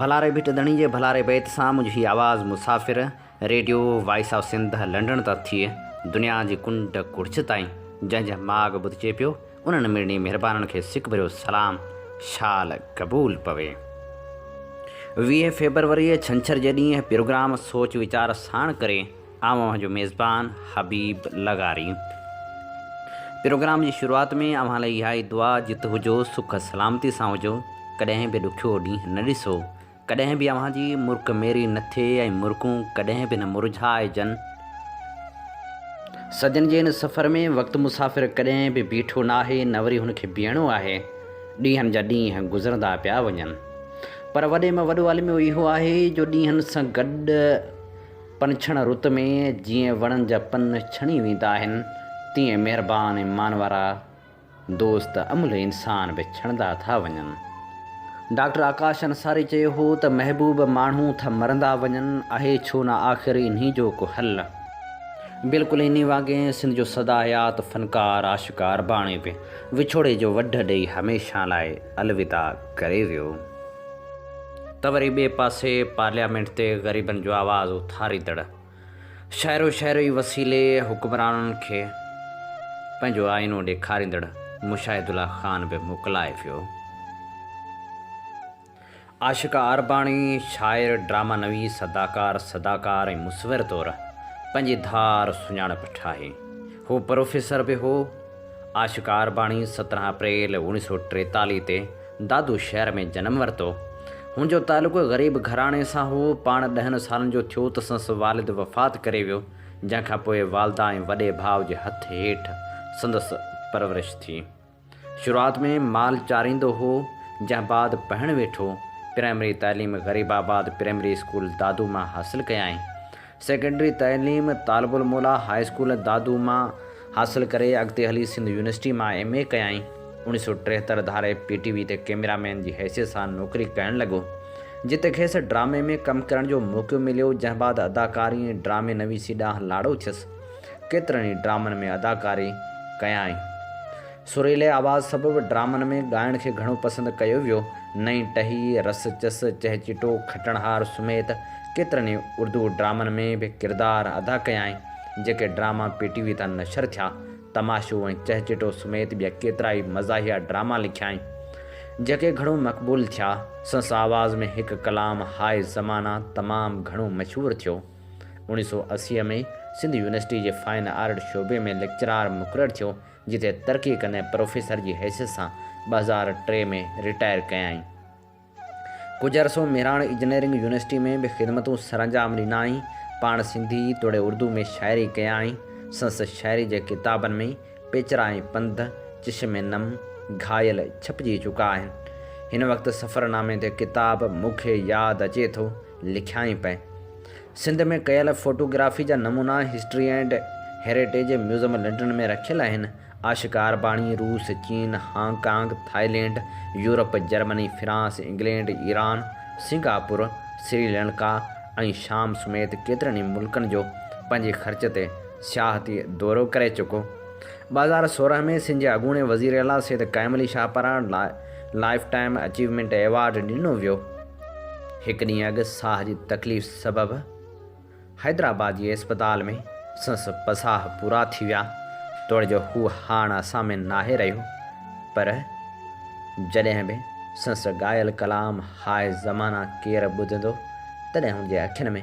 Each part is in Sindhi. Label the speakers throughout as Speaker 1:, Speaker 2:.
Speaker 1: ڀلاري ڀٽ ڌڻي جي ڀلاري بيت سان منهنجي هي آواز مسافر radio voice of Sindh London تان ٿئي دنيا جي ڪنڊ ڪڙڇ تائين جنهن جنهن ماڳ ٻڌجي پيو انهن مڙني مهربانن کي سڪ ڀريو سلام شال قبول پوي. ويهه فيبروريء ڇنڇر جي ڏينهن پروگرام سوچ ويچار ساڻ ڪري. آئون اوهان جو ميزبان حبيب لغاري پروگرام جي شروعات ۾ اوهان لاء اها ئي دعا جت هجو سک سلامتي سان هجو ڪڏهن به ڏکيو ڏينهن نه ڏسو ڪڏهن به اوهان جي مرڪ ميري نه ٿئي ۽ مرڪون ڪڏهن به نه مرجهائجن صدين جي هن سفر ۾ وقت مسافر ڪڏهن به بيٺو ناهي نه وري هن کي بيهڻو آهي ڏينهن جا ڏينهن گذرندا پيا وڃن پر وڏي ۾ وڏو الميو اهو آهي جو ڏينهن سان گڏ پنڇڻ رت ۾ جيئن وڻن جا پن ڇڻي ويندا آهن، تيئن مهربان ۽ مانوارا دوست املهه انسان به ڇڻندا ٿا وڃن. ڊاڪٽر آڪاش انصاري چيو هو ته محبوب ماڻهو ٿا مرندا وڃن، آهي ڇو نه آخر انهي جو ڪو حل؟ بلڪل انهي وانگي سنڌ جو سدا حيات فنڪار عاشق عرباڻي به وڇوڙي جو وڍ ڏئي هميشه لاء الوداع ڪري ويو. ته وري ٻئي پاسي پارليامينٽ تي غريبن جو آواز اٿاريندڙ شهرو شهري وسيلي حڪمرانن کي پنهنجو آئينو ڏيکاريندڙ مشاهد الله خان به موڪلائي ويو. عاشقه عارباڻي شاعر، ڊرامه نويس، اداڪار، صداڪار ۽ مصور طور پنهنجي ڌار سڃاڻپ ٺاهي. هو پروفيسر به هو. عاشقه عارباڻي سترهن اپريل اوڻيهه سؤ ٽيتاليهه تي دادو شهر ۾ جنم ورتو. هن جو تعلق غريب گهراڻي سان هو. پاڻ ڏهن سالن جو ٿيو ته سنس والد وفات ڪري ويو، جنهن کان پوء والده ۽ وڏي ڀاء جي هٿ هيٺ سندس پرورش ٿي. شروعات ۾ مال چاريندو هو، جنهن بعد پهڻ ويٺو. پرائمري تعليم غريب آباد پرائمري اسڪول دادو مان حاصل ڪيائين. سيڪنڊري تعليم طالب الموليٰ هاء اسڪول دادو مان حاصل ڪري اڳتي هلي سنڌ يونيورسٽي مان ايم اي ڪيائين. اوڻيهه سؤ ٽيهتر ڌاري پي ٽي وي تي ڪئميرا مين جي حيثيت سان نوڪري ڪرڻ لڳو جتي کيس ڊرامي ۾ ڪم ڪرڻ جو موقعو مليو جنهن بعد اداڪاري ۽ ڊرامي نويسي ڏانهن لاڙو ٿيس ڪيترن ئي ڊرامن ۾ اداڪاري ڪيائين. سريلي آواز سبب ڊرامن ۾ ڳائڻ کي گهڻو پسند ڪيو ويو. نئين ٽهي، رس چس، چهچٽو، کٽڻهار سميت ڪيترن ئي اردو ڊرامن ۾ به ڪردار ادا ڪيائين. جيڪي ڊراما پي ٽي وي تان نشر ٿيا. تماشو ۽ چهچٽو سميت ٻيا ڪيترائي مزاحيه ڊراما لکيائين. جيڪي گهڻو مقبول ٿيا. سنس آواز ۾ هڪ ڪلام هاء زمانه تمام گهڻو مشهور ٿيو. اوڻيهه سؤ اسي ۾ سنڌ يونيورسٽي جي فائن آرٽ شعبي ۾ ليڪچرار مقرر ٿيو جتي ترقي ڪندي پروفيسر جي حيثيت سان ٻه هزار ٽي ۾ رٽائر ڪيائين. ڪجهه عرصو مهراڻ اجنيئرنگ يونيورسٽي ۾ به خدمتون سرانجام ڏنائين. پاڻ سنڌي توڙي اردو ۾ شاعري ڪيائين. سندس شاعري جي ڪتابن ۾ پيچرا ۽ پنڌ، چشم نم، گهائل ڇپجي چڪا آهن. هن وقت سفرنامي تي ڪتاب مون کي ياد اچي ٿو، لکيائين پئي. سنڌ ۾ ڪيل فوٽوگرافي جا نمونا history and heritage museum London ۾ رکيل آهن. آشڪار باڻي روس، چين، Hong Kong, Thailand, Europe, Germany, France, England, Iran, Singapore, Sri Lanka ۽ شام سميت ڪيترن ئي ملڪن جو پنهنجي خرچ تي سياحتي دورو ڪري چڪو. ٻه هزار سورهن ۾ سنڌ جي اڳوڻي وزيراعليٰ سيد قائم علي شاهپران لاء لائيف ٽائيم اچيومينٽ ايوارڊ ڏنو ويو. هڪ ڏينهن اڳ ساهه جي تڪليف سبب حيدرآباد جي اسپتال ۾ سنس پساهه پورا ٿي ويا، توڙي جو هو هاڻ اسان ۾ ناهي رهيو، پر جڏهن به سنس ڳايل ڪلام هاء زمانه ڪير ٻڌندو، تڏهن هن جي اکين ۾.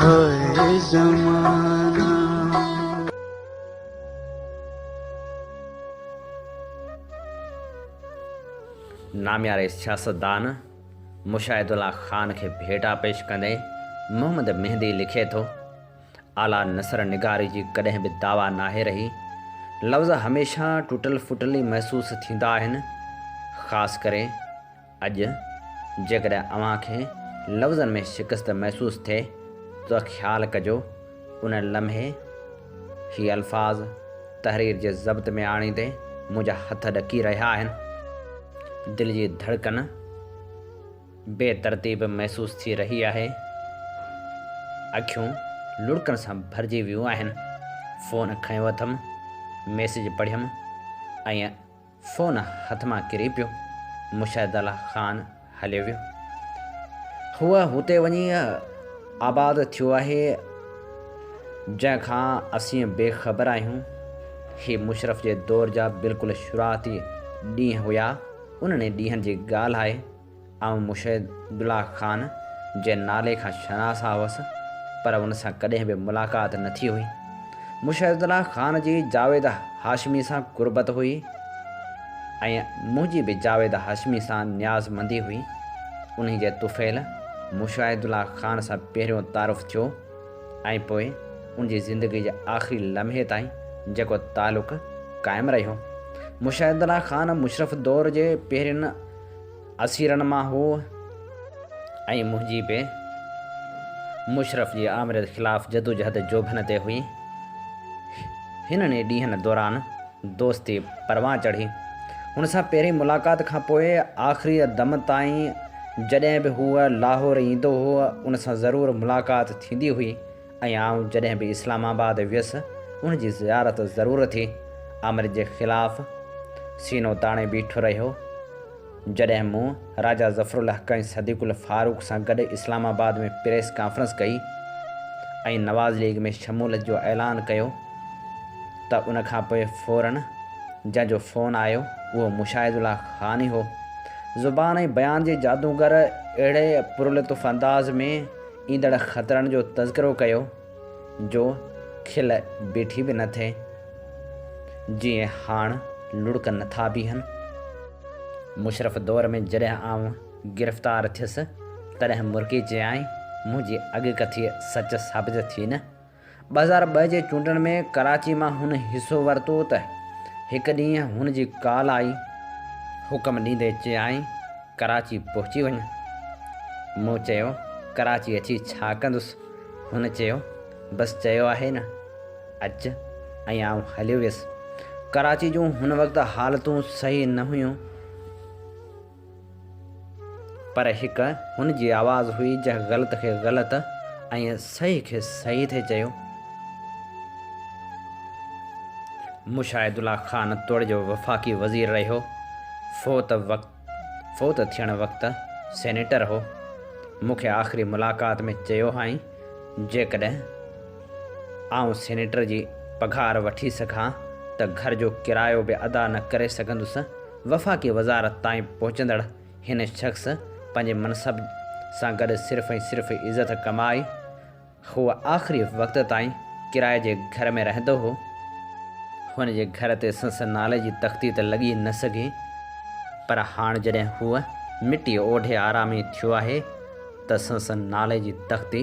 Speaker 2: هاء زمانا.
Speaker 1: نامياري سياستدان مشاهد الله خان کي ڀيٽا پيش ڪندي محمد مهندي لکي ٿو، اعليٰ نثر نگاري جي ڪڏهن به دعويٰ ناهي رهي. لفظ هميشه ٽٽل ڦٽل ئي محسوس ٿيندا آهن، خاص ڪري. اڄ جيڪڏهن اوهان کي لفظن ۾ شڪست محسوس ٿئي ته خيال ڪجو ان لمحي هي الفاظ تحرير جي ضبط ۾ آڻيندي منهنجا هٿ ڏڪي رهيا آهن، دل جي ڌڙڪن بي ترتيب محسوس ٿي رهي آهي، اکيون لڙڪن سان ڀرجي ويون آهن، فون کنيو اٿم، ميسيج پڙهيم ۽ فون هٿ مان ڪري پيو. مشاهدالله خان هليو ويو. هو هتي وڃي آباد ٿيو آهي جنهن کان اسين بي خبر آهيون. هي مشرف جي دور جا بلڪل شروعاتي ڏينهن هيا. انهن ڏينهن جي ڳالهه آهي. آئون مشهد عبدالله خان جي نالي کان شناسان هوس، پر ان سان ڪڏهن به ملاقات نه ٿي هئي. مشهد عبدالله خان جي جاويد هاشمي سان قربت هئي ۽ منهنجي به جاويد هاشمي سان نيازمندي هئي. انهي جي طفيل مشهد عبدالله خان سان پهريون تعارف ٿيو ۽ پوء ان جي زندگي جي آخري لمحي تائين جيڪو تعلق قائم رهيو. مشهد عبدالله خان مشرف دور جي پهرين اسيرن مان هو ۽ منهنجي به مشرف جي آمريت خلاف جدوجهد جوڀن تي هئي. هنن ئي ڏينهن دوران دوستي پروان چڙهي. هن سان پهرين ملاقات کان پوء آخريء دم تائين جڏهن به هو لاهور ايندو هو، ان سان ضرور ملاقات ٿيندي هئي. ۽ آئون جڏهن به اسلام آباد ويس، ان جي زيارت ضرور ٿي. آمر جي خلاف سينو تاڻي بيٺو رهيو. جڏهن مون راجا ظفرالحق ۽ صديق الفاروق سان گڏ اسلام آباد ۾ پريس ڪانفرنس ڪئي ۽ نواز ليگ ۾ شمولت جو اعلان ڪيو ته ان کان پوء فورن جنهن جو فون آيو، اهو مشاهد الله خان ئي هو. زبان ۽ بيان جي جادوگر اهڙي پرلطف انداز ۾ ايندڙ خطرن جو تذڪرو ڪيو جو کل بيٺي به نه ٿئي، جيئن هاڻ لڙڪ نه ٿا بيهن. مشرف دور ۾ جڏهن آئون گرفتار ٿيس، تڏهن مرڪي چيائين، منهنجي اڳڪٿيء سچ ثابت ٿي نه؟ ٻه هزار ٻه جي چونڊن ۾ ڪراچي مان هن حصو ورتو ته هڪ ڏينهن هن جي ڪال آئي، حڪم ڏيندي چيائين، ڪراچي پهچي وڃ. مون چيو، ڪراچي اچي ڇا ڪندس؟ هن چيو، بس چيو آهي نه، اچ ۽ آئون هليو ويس. ڪراچي جون هن وقت حالتون صحيح نه هيون. پر هڪ هن جي آواز هئي جنهن غلط کي غلط ۽ صحيح کي صحيح ٿي چيو. مشاهد الله خان توڙي جو وفاقي وزير رهيو، فوت وقت فوت ٿيڻ وقت سينيٽر هو، مون کي آخري ملاقات ۾ چيو هئائين، جيڪڏهن آئون سينيٽر جي پگهار وٺي سگهان ته گهر جو ڪرايو به ادا نه ڪري سگهندس. وفاقي وزارت تائين پهچندڙ هن شخص پنهنجي منصب سان گڏ صرف ۽ صرف عزت ڪمائي. هو آخري وقت تائين ڪرائي جي گهر ۾ رهندو هو. هن جي گهر تي سنس نالي جي تختي ته لڳي نه سگهي، پر هاڻ جڏهن هو مٽي اوڍي آرامي ٿيو آهي ته سنس نالي جي تختي،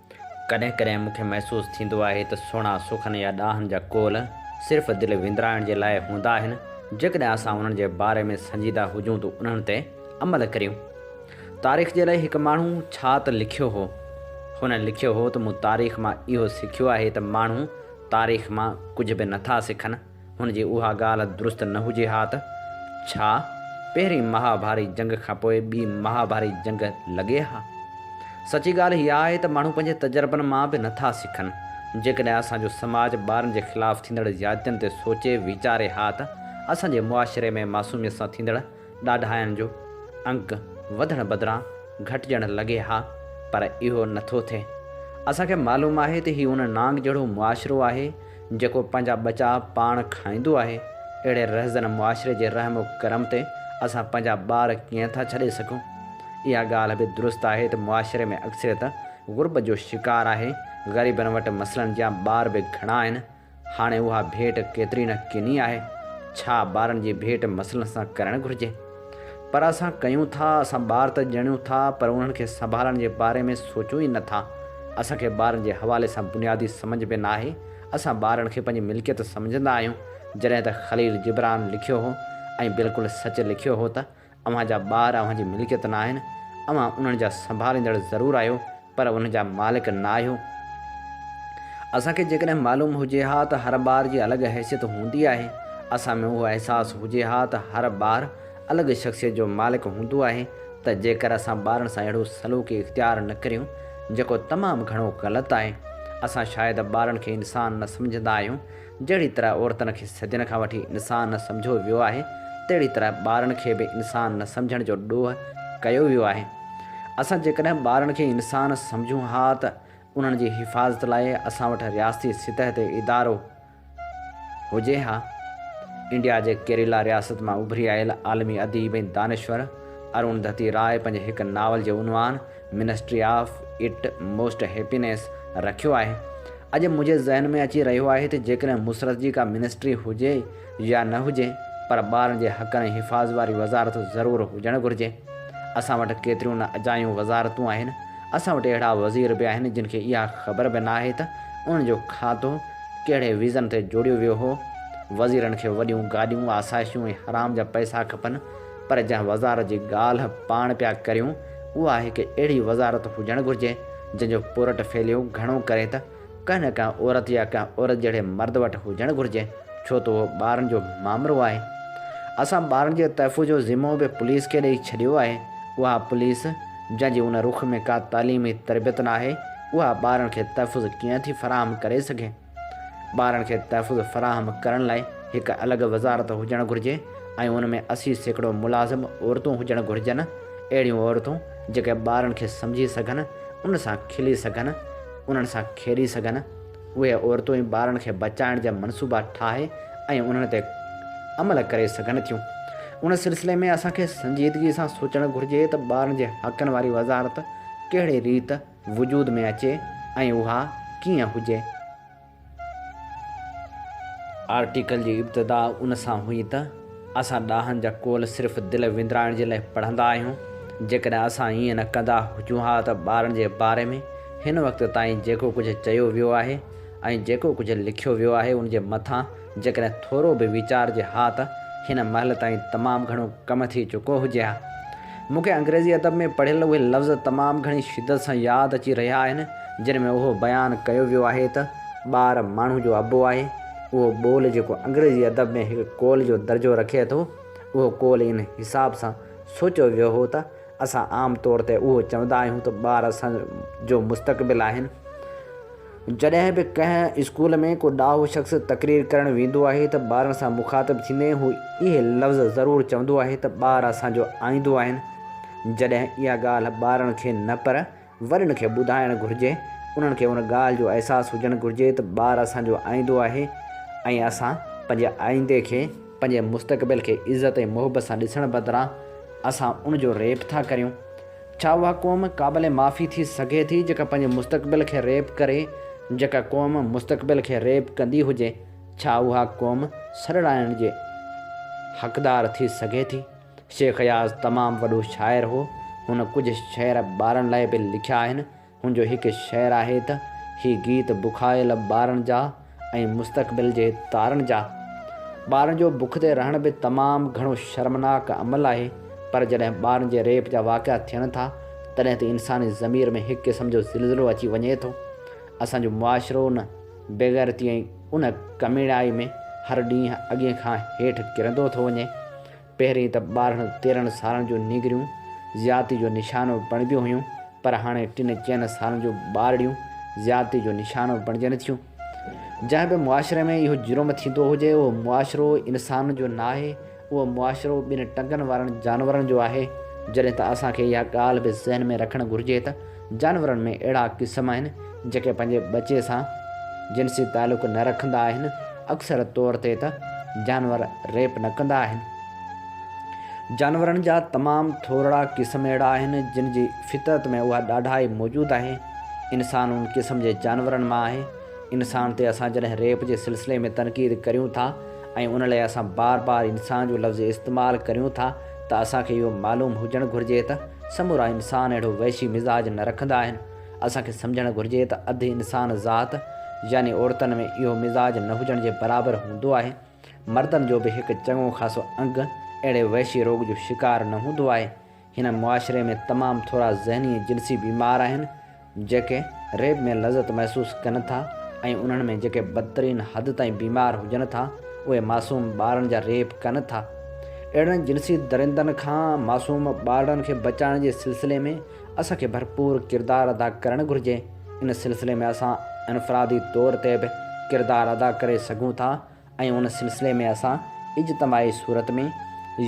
Speaker 1: ڪڏهن ڪڏهن مون کي محسوس ٿيندو آهي ته سهڻا سخن يا ڏاهن جا قول صرف دل وندرائڻ جي لاء هوندا آهن، جيڪڏهن اسان انهن جي باري ۾ سنجيده هجون ته انهن تي عمل ڪريون. تاريخ جي لاء هڪ ماڻهو ڇا ته لکيو هو. هن لکيو هو ته مون تاريخ مان اهو سکيو آهي ته ماڻهو تاريخ مان ڪجهه به نٿا سکن. هن جي اها ڳالهه درست نه هجي ها ته ڇا پهرين مهاڀاري جنگ کان پوء ٻي مهاڀاري جنگ لڳي ها؟ سچي ڳالهه هيء آهي ته ماڻهو پنهنجي تجربن مان به نه ٿا سکن. جيڪڏهن اسان جو سماج ٻارن جي خلاف ٿيندڙ زيادتين تي سوچي ويچاري ها ته اسان جي معاشري ۾ معصوميت سان ٿيندڙ ڏاڍاين جو انڪ وڌڻ بدران گهٽجڻ لڳي ها پر اهو نه ٿو ٿئي. اسان کي معلوم آهي ته هي ان نانگ جهڙو معاشرو آهي جيڪو پنهنجا ٻچا پاڻ کائيندو آهي، اهڙي رهزن معاشري جي رحم و ڪرم تي اسان پنهنجا ٻار ڪيئن ٿا ڇڏي سگهون؟ اها ڳالهه به درست آهي ته معاشري ۾ اڪثريت غربت جو شڪار آهي، غريبن وٽ مسلن جيان ٻار به گهڻا آهن، هاڻي اها ڀيٽ ڪيتري نه ڪني آهي، ڇا ٻارن جي ڀيٽ مسئلن سان ڪرڻ گهرجي؟ پر اسان ڪيون ٿا، اسان ٻار ته ڄڻيون ٿا پر انهن کي سنڀالڻ جي باري ۾ سوچون ئي نه ٿا. اسان کي ٻارن جي حوالي سان بنيادي سمجهه به ناهي، اسان ٻارن کي پنهنجي ملڪيت سمجهندا آهيون، جڏهن ته خليل جبران لکيو هو ۽ بلڪل سچ لکيو هو ته، اوهان جا ٻار اوهان جي ملڪيت نه آهن، اوهان انهن جا سنڀاليندڙ ضرور آهيو پر انهن جا مالڪ نه آهيو. اسان کي جيڪڏهن معلوم هجي ها ته هر ٻار جي الڳ حيثيت هوندي آهي، اسان ۾ اهو احساس هجي ها ته هر ٻار الڳ شخصيت جو مالڪ هوندو آهي ته جيڪر اسان ٻارن سان اهڙو سلوڪ اختيار نه ڪريون جيڪو تمام گهڻو غلط آهي. اسان شايد ٻارن کي انسان نه سمجهندا آهيون. جهڙي طرح عورتن کي صدين کان وٺي انسان نه سمجهيو ويو آهي، تهڙي طرح ٻارن کي به انسان نه سمجهڻ جو ڏوهه ڪيو ويو آهي. اسان جيڪڏهن ٻارن کي انسان سمجهون ها ته انهن جي حفاظت لاء اسان وٽ رياستي سطح تي ادارو هجي ها. انڊيا جي ڪيريلا رياست مان اڀري آيل عالمي اديب ۽ دانشور ارون ڌتي راء پنهنجي هڪ ناول جي عنوان ministry of utmost happiness رکيو آهي. اڄ منهنجي ذهن ۾ اچي رهيو آهي ته جيڪڏهن مسرت جي ڪا منسٽري هجي يا نه هجي پر ٻارن جي حقن ۽ حفاظ واري وزارت ضرور هجڻ گهرجي. اسان وٽ ڪيتريون نه اجايون وزارتون آهن. اسان وٽ اهڙا وزير به آهن جن کي اها خبر به ناهي ته انهن جو کاتو ڪهڙي ويزن تي جوڙيو ويو هو. وزيرن کي وڏيون گاڏيون، آسائشون ۽ حرام جا پئسا کپن. پر جنهن وزارت جي ڳالهه پاڻ پيا ڪريون اها آهي ڪي اهڙي وزارت هجڻ گهرجي جنهن جو پورٽ فيليو گهڻو ڪري ته ڪنهن نه ڪنهن عورت يا ڪنهن عورت جهڙي مرد وٽ هجڻ گهرجي ڇو ته اهو ٻارن جو مامرو آهي اسان ٻارن جي تحفظ جو ذمو به پوليس کي ڏئي ڇڏيو آهي اها پوليس جنهن جي ان رخ ۾ ڪا تعليمي تربيت ناهي اها ٻارن کي تحفظ ڪيئن ٿي فراهم ڪري سگهي. ٻارن کي تحفظ فراهم ڪرڻ لاء هڪ الڳ وزارت هجڻ گهرجي ۽ ان ۾ اسي سيڪڙو ملازم عورتون هجڻ گهرجن، اهڙيون عورتون جيڪي ٻارن کي سمجهي سگهن، انهن سان کلي سگهن، انهن سان کيڏي سگهن، اهي عورتون ئي ٻارن کي بچائڻ جا منصوبا ٺاهي ۽ انهن تي عمل ڪري سگهن ٿيون، ان سلسلي ۾ اسان کي سنجيدگي سان سوچڻ گهرجي ته ٻارن جي حقن واري وزارت ڪهڙي ريت. وجود ۾ اچي ۽ اها ڪيئن هجي؟ آرٽيڪل جي ابتدا ان سان هئي ته، اسان ڏاهن جا قول صرف دل وندرائڻ جي لاء پڙهندا آهيون. جيڪڏهن اسان ايئن نه ڪندا هجون ها ته ٻارن جي باري ۾ هن وقت تائين جيڪو ڪجهه چيو ويو آهي ۽ جيڪو ڪجهه لکيو ويو آهي ان جي مٿان جيڪڏهن ٿورو به ويچارجي ها ته هن مهل تائين تمام گهڻو ڪم ٿي چڪو هجي ها. مون کي انگريزي ادب ۾ پڙهيل اهي لفظ تمام گهڻي شدت سان ياد اچي رهيا آهن، جن ۾ اهو بيان ڪيو ويو آهي ته ٻار ماڻهو جو ابو آهي. اهو ٻول جيڪو انگريزي ادب ۾ هڪ قول جو درجو رکي ٿو، اهو قول ان حساب سان سوچيو ويو هو ته اسان عام طور تي اهو چوندا آهيون ته ٻار اسان جو مستقبل آهن. جڏهن به ڪنهن اسڪول ۾ ڪو ڏاهو شخص تقرير ڪرڻ ويندو آهي ته ٻارن سان مخاطب ٿيندي هو اهي لفظ ضرور چوندو آهي ته ٻار اسان جو آئيندو آهن. جڏهن اها ڳالهه ٻارن کي نه پر وڏن کي ٻڌائڻ گهرجي. انهن کي ان ڳالهه جو احساس هجڻ گهرجي ته ٻار اسان جو آئيندو آهي ۽ اسان پنهنجي آئيندي کي، پنهنجي مستقبل کي عزت ۽ محبت سان ڏسڻ بدران اسان ان جو ريپ ٿا ڪريون. ڇا اها قوم قابل معافي ٿي سگهي ٿي جيڪا پنهنجي مستقبل کي ريپ ڪري؟ جيڪا قوم مستقبل کي ريپ ڪندي هجي ڇا اها قوم سڏرائڻ جي حقدار ٿي سگهي ٿي؟ شيخ اياز تمام وڏو شاعر هو. هن ڪجهه شعر ٻارن لاء به لکيا آهن. هن جو هڪ شعر آهي ته، هي گيت بکايل ٻارن جا ۽ مستقبل جي تارن جا. ٻارن جو بک تي رهڻ به تمام گهڻو شرمناڪ عمل آهي، پر جڏهن ٻارن جي ريپ جا واقعا ٿين ٿا، تڏهن ته انساني ضمير ۾ هڪ قسم جو زلزلو اچي وڃي ٿو. اسان جو معاشرو ان بيغيرتي ۽ ان ڪميڻائي ۾ هر ڏينهن اڳين کان هيٺ ڪرندو ٿو وڃي. پهرين ته ٻارهن تيرهن سالن جون نينگريون زيادتي جو نشانو بڻبيون هيون پر هاڻي ٽن چئن سالن جون ٻارڙيون زيادتي جو نشانو بڻجن ٿيون. جنهن به معاشري ۾ اهو جرم ٿيندو هجي اهو معاشرو انسان جو ناهي اهو معاشرو ٻن ٽنگن وارن جانورن جو آهي جڏهن ته اسان کي اها ڳالهه به ذهن ۾ رکڻ گهرجي ته جانورن ۾ اهڙا قسم آهن جيڪي پنهنجي ٻچي سان جنسي تعلق نه رکندا آهن، اڪثر طور تي ته جانور ريپ نه ڪندا آهن. جانورن جا تمام ٿورڙا قسم اهڙا آهن جن جي فطرت ۾ اها ڏاڍائي موجود آهي. انسان ان قسم جي جانورن مان آهي. انسان تي اسان جڏهن ريپ جي سلسلي ۾ تنقيد ڪريون ٿا ۽ ان لاء اسان بار بار انسان جو لفظ استعمال ڪريون ٿا ته اسان کي اهو معلوم هجڻ گهرجي ته سمورا انسان اهڙو وحشي مزاج نه رکندا آهن. اسان کي سمجهڻ گهرجي ته اڌ انسان ذات يعني عورتن ۾ اهو مزاج نه هجڻ جي برابر هوندو آهي. مردن جو به هڪ چڱو خاصو انگ اهڙي وحشي روڳ جو شڪار نه هوندو آهي. هن معاشري ۾ تمام ٿورا ذهني ۽ جنسي بيمار آهن. جيڪي ريب ۾ لذت محسوس ڪن ٿا ۽ انهن ۾ جيڪي بدترين حد تائين بيمار هجن ٿا اهي معصوم ٻارڙن جا ريپ ڪن ٿا. اهڙن جنسي درندن کان معصوم ٻارڙن کي بچائڻ جي سلسلي ۾ اسان کي ڀرپور ڪردار ادا ڪرڻ گهرجي. ان سلسلي ۾ اسان انفرادي طور تي به ڪردار ادا ڪري سگهون ٿا. ۽ ان سلسلي ۾ اسان اجتماعي صورت ۾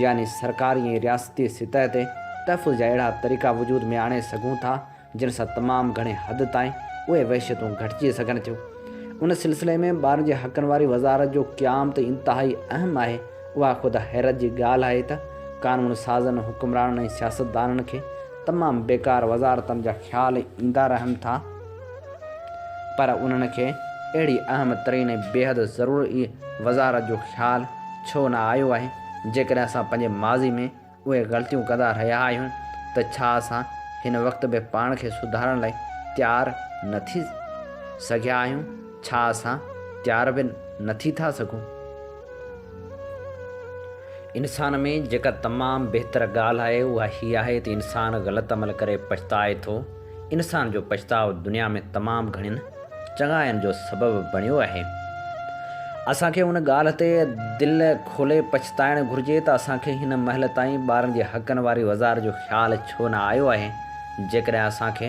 Speaker 1: يعني سرڪاري ۽ رياستي سطح تي تحفظ جا اهڙا طريقا وجود ۾ آڻي سگهون ٿا جن سان تمام گهڻي حد تائين اهي وحشتون گهٽجي سگهن ٿيون ان سلسلي ۾ ٻارن جي حقن واري وزارت جو قيام ته انتهائي اهم آهي اها خود حيرت جي ڳالهه آهي ته قانون سازن حڪمرانن ۽ سياستدانن کي تمام بيڪار وزارتن جا خيال ايندا رهن ٿا. پر انهن کي اهڙي اهم ترين ۽ بيحد ضرورئي وزارت جو خيال ڇو نه آيو آهي؟ جيڪڏهن اسان پنهنجي ماضي ۾ اهي غلطيون ڪندا رهيا آهيون ته ڇا اسان هن وقت به پاڻ کي سڌارڻ لاء تيار نه ٿي سگهيا آهيون؟ ڇا اسان تيار به نه ٿي ٿا سگهون؟ انسان ۾ جيڪا تمام بهتر ڳالهه آهي اها هي آهي ته انسان غلط عمل ڪري پڇتائي ٿو. انسان جو پڇتاء دنيا ۾ تمام گهڻين چڱاين جو سبب بڻيو آهي. اسان کي ان ڳالهه تي دل کولي پڇتائڻ گهرجي ته اسان کي هن مهل تائين ٻارن جي حقن واري وزار جو خيال ڇو نه آيو آهي. جيڪڏهن اسان کي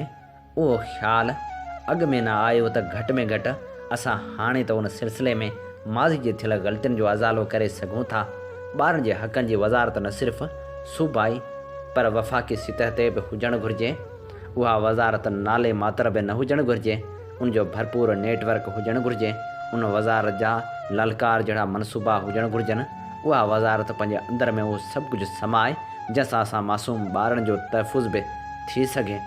Speaker 1: اهو خيال اڳ ۾ نه آيو ته گهٽ ۾ گهٽ اسان هاڻي ته ان سلسلي ۾ ماضي جي ٿيل غلطين جو ازالو ڪري سگهون ٿا. ٻارن جي حقن جي وزارت نه صرف صوبائي پر وفاقي سطح تي به هجڻ گهرجي. اها وزارت نالي ماتر به نه هجڻ گهرجي، ان جو ڀرپور نيٽ ورڪ هجڻ گهرجي، ان وزارت جا للڪار جهڙا منصوبا هجڻ گهرجن، اها وزارت پنهنجي اندر ۾ اهو سڀ ڪجهه سمائي جنهن سان اسان معصوم ٻارن جو تحفظ به ٿي سگهي.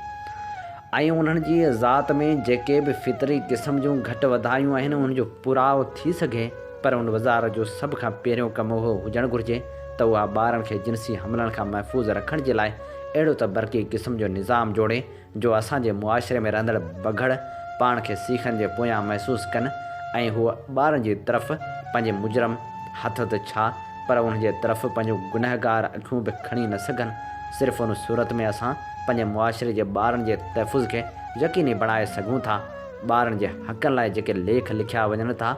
Speaker 1: ۽ انهن جي ذات ۾ جيڪي به فطري قسم جون گهٽ وڌايون آهن انهن جو پورائو ٿي سگهي پر ان وزارت جو سڀ کان پهريون ڪم اهو هجڻ گهرجي ته اها ٻارن کي جنسي حملن کان محفوظ رکڻ جي لاء اهڙو ته برقي قسم جو نظام جوڙي جو اسان جي معاشري ۾ رهندڙ بگهڙ پاڻ کي سيخن جي پويان محسوس ڪن ۽ هو ٻارن جي طرف پنهنجي مجرم هٿ ته ڇا پر انهن جي طرف پنهنجون گنهگار اکيون به کڻي نه سگهن صرف ان صورت ۾ اسان پنهنجي معاشري جي ٻارن جي تحفظ کي يقيني بڻائي سگهون ٿا، ٻارن جي حقن لاء جيڪي ليک لکيا وڃن ٿا،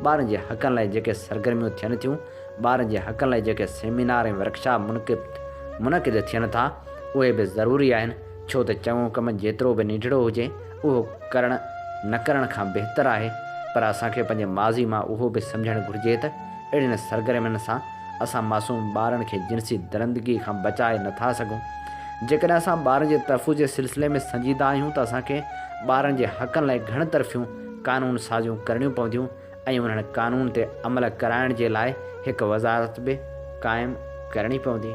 Speaker 1: ٻارن جي حقن لاء جيڪي سرگرميون ٿين ٿيون، ٻارن جي حقن لاء جيڪي سيمينار ۽ ورڪشاپ منقد منعقد ٿين ٿا، اهي به ضروري آهن، ڇو ته چڱو ڪم جيترو به ننڍڙو هجي، اهو ڪرڻ نه ڪرڻ کان بهتر آهي پر اسان کي پنهنجي ماضي مان اهو به سمجهڻ گهرجي ته اهڙين سرگرمين سان اسان معصوم ٻارن کي جنسي درندگي کان بچائي نه ٿا سگهون. جيڪڏهن اسان ٻارن جي تحفظ جي سلسلي ۾ سنجيده آهيون ته اسان کي ٻارن جي حقن لاء گهڻ طرفيون قانون سازيون ڪرڻيون پونديون ۽ انهن قانون تي عمل ڪرائڻ جي لاء هڪ وزارت به قائم ڪرڻي پوندي.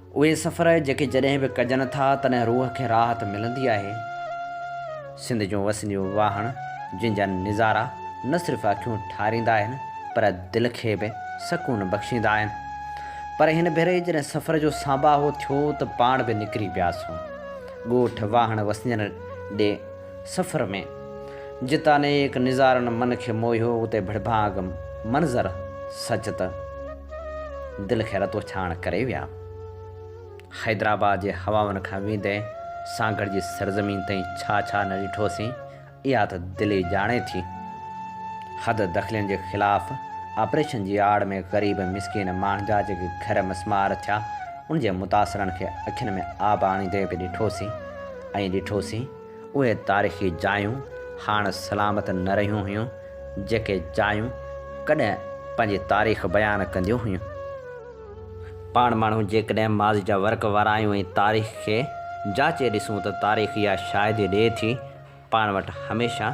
Speaker 1: اهي سفر جيڪي جڏهن به ڪجن ٿا تڏهن روح کي راحت ملندي آهي. سنڌ جون وسنديون واهڻ جن جا نظارا نه صرف اکيون ٺاريندا آهن پر دل کي به سڪون بخشيندا آهن. پر هن ڀيري جڏهن سفر جو سانباهو ٿيو ته پاڻ به نڪري پياسون ڳوٺ واهڻ وسندين ڏي. سفر ۾، جتان نيڪ نظارن من کي موهيو، اتي ڀڙڀانگ منظر سچ ته دل کي رتو ڇاڻ ڪري ويا. حيدرآباد جي هوائن کان ويندي سانگهڙ جي سرزمين تائين ڇا ڇا نه ڏٺوسين، اها ته دل ئي ڄاڻي ٿي. حد دخلين جي خلاف آپريشن جي آڙ ۾ غريب مسڪين ماڻهن جا جيڪي گهر مسمار ٿيا، ان جي متاثرن کي اکين ۾ آب آڻيندي به ڏٺوسين. ائين ڏٺوسين اهي تاريخي جايون هاڻ سلامت نه رهيون هيون جيڪي جايون ڪڏهن پنهنجي تاريخ بيان ڪنديون هيون. پاڻ ماڻهو جيڪڏهن ماضي جا ورق وارايون ۽ تاريخ کي جاچي ڏسون ته تاريخ اها شاهدي ڏئي ٿي پاڻ وٽ هميشه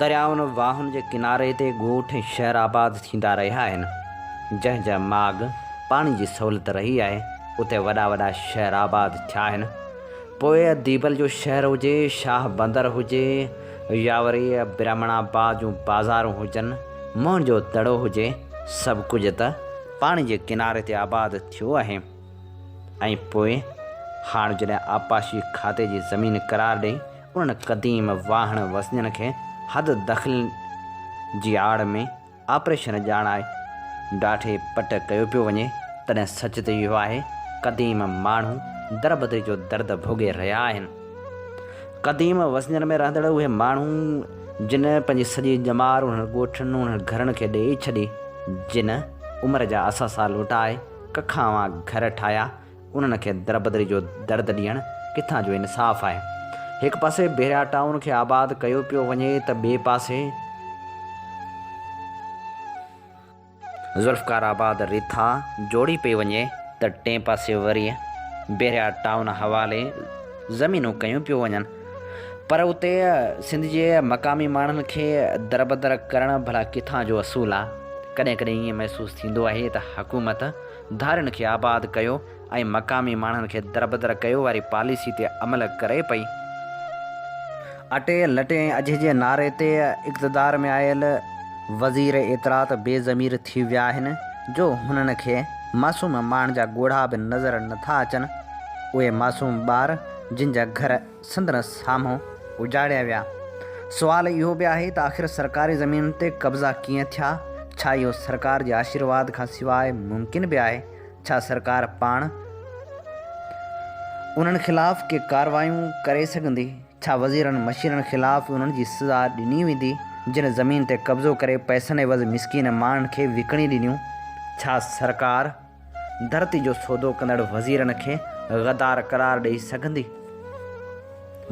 Speaker 1: دريائن واهن جي ڪناري تي ڳوٺ ۽ شهر آباد ٿيندا رهيا آهن جنهن جا ماڳ پاڻي جي سهولت رهي آهي اتي وڏا وڏا شهر آباد ٿيا آهن. پوء ديبل جو شهر هجي، شاهه بندر هجي يا وري برهمڻ آباد جون بازارون هجن، موهن جو دڙو هجي، سڀ ڪجهه ته پاڻي جي ڪناري تي آباد ٿيو آهي ۽ پوء هاڻ جڏهن آبپاشي کاتي جي زمين قرار ڏئي انهن قديم واهڻ وسنجن کي حد دخلين جي آڙ ۾ آپريشن ڄاڻائي ڊاڍي پٽ ڪيو پيو وڃي تڏهن سچ ته اهو آهي قديم ماڻهو دربدري جو درد ڀوڳي رهيا آهن. قديم وسنجن ۾ رهندڙ اهي ماڻهو جن پنهنجي سڄي ڄمار انهن ڳوٺن انهن گهرن کي ڏيئي ڇڏي جن عمر جا اثاثا لوٽائي ڪکاوان گهر ٺاهيا انهن کي دربدري جو درد ڏيڻ ڪٿان جو انصاف آهي؟ هڪ پاسي بحريا ٽائون کي آباد ڪيو پيو وڃي ته ٻئي پاسي ذوالفقار آباد رٿا جوڙي پئي وڃي ته ٽئين پاسي وري بحريا ٽائون حوالي زمينون ڪيون پيو وڃن پر اتي سنڌ جي مقامي ماڻهن کي دربدر ڪرڻ ڀلا ڪٿان جو اصول آ؟ ڪڏهن ڪڏهن ائين محسوس ٿيندو آهي ته حڪومت ڌارين کي آباد ڪيو ۽ مقامي ماڻهن کي دربدر ڪيو واري پاليسي تي عمل ڪري پئي. اٽي، لٽي ۽ اجهي جي نعري تي اقتدار ۾ آيل وزير اطلاعات بي ضمير ٿي ويا آهن جو هنن کي معصوم ماڻهن جا ڳوڙها به نظر نٿا اچن. اهي معصوم ٻار جن جا گهر سندس سامهون اجاڙيا ويا. سوال اهو به آهي ته آخر سرڪاري زمين تي قبضا ڪيئن ٿيا؟ ڇا اهو سرڪار جي آشيرواد کان سواء ممڪن به آهي؟ ڇا سرڪار پاڻ انهن خلاف ڪي ڪارروايون ڪري سگهندي؟ ڇا وزيرن مشيرن خلاف انهن جي سزا ڏني ويندي، جن زمين تي قبضو ڪري پئسن عيوض مسڪين ماڻهن کي وڪڻي ڏنيون؟ ڇا سرڪار. ڌرتي جو سودو ڪندڙ وزيرن کي غدار قرار ڏئي سگهندي؟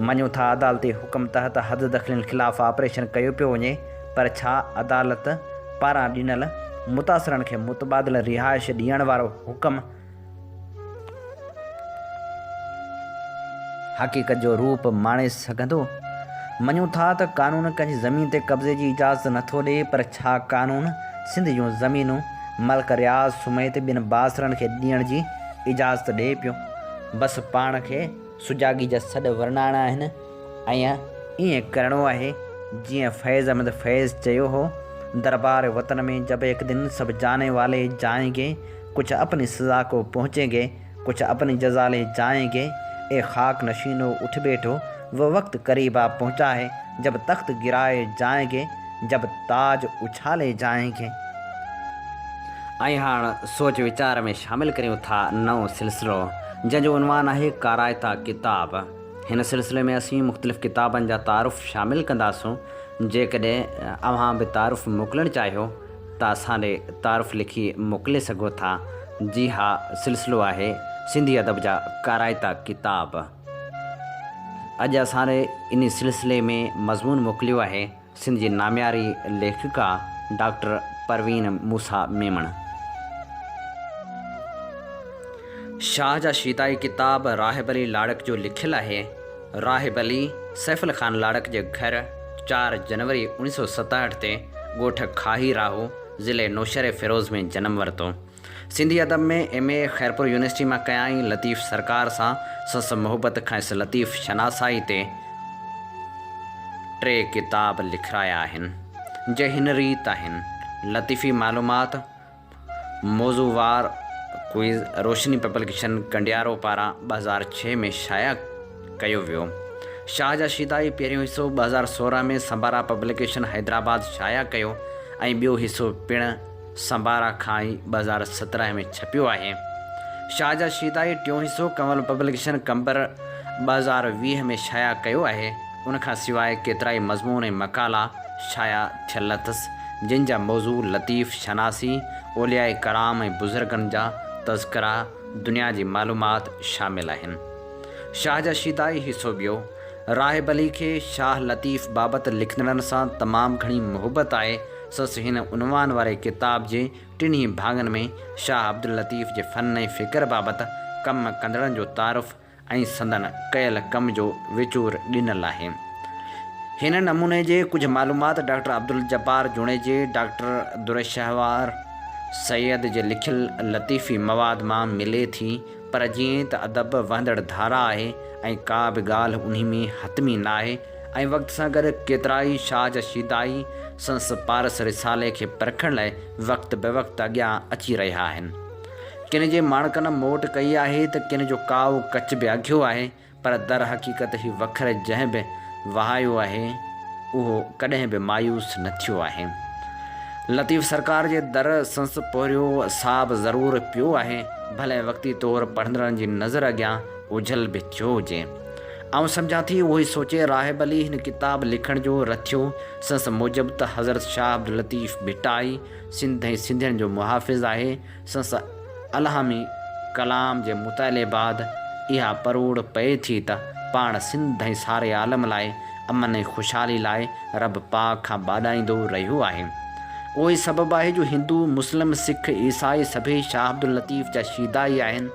Speaker 1: مڃون ٿا عدالتي حڪم تحت حد دخلين خلاف آپريشن ڪيو پيو وڃي پر ڇا عدالت پاران ڏنل متاثرن کي متبادل رهائش ڏيڻ وارو حڪم حقيقت جو روپ ماڻي سگهندو؟ مڃون ٿا ته قانون ڪنهن جي زمين تي قبضي جي اجازت نه ٿو ڏئي پر ڇا قانون سنڌ جون زمينون ملڪ رياض سميت ٻين بااثرن کي ڏيڻ جي اجازت ڏئي پيو؟ بس پاڻ کي سجاڳي جا سڏ ورنائڻا آهن. ائين ائين ڪرڻو آهي جيئن فيض احمد فيض چيو هو، دربار وطن مين جب ايڪ دن سب جاني والي جائين گي، ڪچھ اپني سزا ڪو پهچين گي، ڪچھ اپني جزا لي جائين گي، اي خاڪ نشينو اٺ بيٺو، وه وقت قريب آ پهچا هي، جب تخت گرائي جائين گي، جب تاج اڇالي جائين گي. ۽ هاڻ سوچ ويچار ۾ شامل ڪريون ٿا نئون سلسلو جنهن جو عنوان آهي ڪارائتا ڪتاب. هن سلسلي ۾ اسين مختلف ڪتابن جا تعارف شامل ڪنداسون، جيڪڏهن اوهان به تعارف موڪلڻ چاهيو ته اسان ڏي تعارف لکي موڪلي سگهو ٿا. جي ها، سلسلو آهي سنڌي ادب جا ڪارائتا ڪتاب. اڄ اسان ڏي انهي سلسلي ۾ مضمون موڪليو آهي. سنڌ جي نامياري ليکڪا ڊاڪٽر پروين موسيٰ ميمڻ. شاهه جا شيدائي ڪتاب راهب علي لاڙڪ جو لکيل آهي. راهب علي، سيف علي خان لاڙڪ جي گهر، چار جنوري اوڻيهه سؤ ستهٺ تي ڳوٺ کاهي راهو، ضلعي نوشهري فيروز ۾ جنم ورتو. سنڌي ادب ۾ ايم اي خيرپور يونيورسٽي مان ڪيائين لطيف سرڪار سان سس محبت کانئس لطيف شناسائي تي ٽي ڪتاب لکرايا آهن جي هن ريت آهن لطيفي معلومات موضوعوار ڪوئز روشني پبلڪيشن ڪنڊيارو پاران ٻه هزار ڇهه ۾ شايع ڪيو ويو شاهه جا شيدائي پهريون حصو ٻه هزار سورهن ۾ سمبارا پبلڪيشن حيدرآباد شايع ڪيو ۽ ٻيو حصو پڻ سنبارا کان ئي ٻه هزار سترهن ۾ ڇپيو آهي. شاهه جا شيدائي ٽيون حصو ڪنول پبلڪيشن قمبر ٻه هزار ويهه ۾ شايع ڪيو آهي. ان کان سواء ڪيترائي مضمون ۽ مقالا شايع ٿيل اٿس، جن جا موضوع لطيف شناسي، اولياء ڪرام ۽ بزرگن جا تذڪرا، دنيا جي معلومات شامل آهن. شاهه جا شيدائي حصو ٻيو، راهب علي کي شاهه لطيف بابت لکندڙن سان تمام گهڻي محبت آهي، سس هن عنوان واري ڪتاب جي ٽنهي ڀاڱن ۾ شاهه عبداللطيف جي فن ۽ فڪر بابت ڪم ڪندڙن جو تعارف ۽ سندن ڪيل ڪم جو وچور ڏنل آهي. هن نموني جي ڪجهه معلومات ڊاڪٽر عبدالجبار جوڻيجي، ڊاڪٽر درشهوار سيد جي لکيل لطيفي مواد مان ملي ٿي پر جيئن ته ادب وهندڙ ڌارا آهي ۽ ڪا به ڳالهه انهي ۾ حتمي ناهي ۽ وقت سان گڏ ڪيترائي شاهه جا شيدائي سندس پارس رسالي کي پرکڻ لاء وقت به وقت اڳيان اچي رهيا آهن. ڪن جي ماڻڪن موٽ ڪئي آهي ته ڪن جو ڪائو ڪچ به اگهيو آهي، پر درحقيقت هي وکر جنهن به وهايو آهي، اهو ڪڏهن به مايوس نه ٿيو آهي. لطيف سرڪار جي در سندس پورهيو ساهه به ضرور پيو آهي، ڀلي وقتي طور پڙهندڙن جي نظر اڳيان اوجهل به ٿيو هجي. آئون سمجهان ٿي اهو ئي سوچي راهب علي هن ڪتاب لکڻ جو رٿيو. سنس موجب ته حضرت شاهه عبداللطيف ڀٽائي سنڌ ۽ سنڌين جو محافظ آهي. سنس الهامي ڪلام جي مطالعي بعد اها پروڙ پئي ٿي ته پاڻ سنڌ ۽ ساري عالم لاء امن ۽ خوشحالي لاء رب پاڪ کان ٻاڏائيندو رهيو آهي. اهو ئي سبب آهي جو هندو، مسلم، سک، عيسائي سڀيئي شاهه عبداللطيف جا شيدا ئي آهن.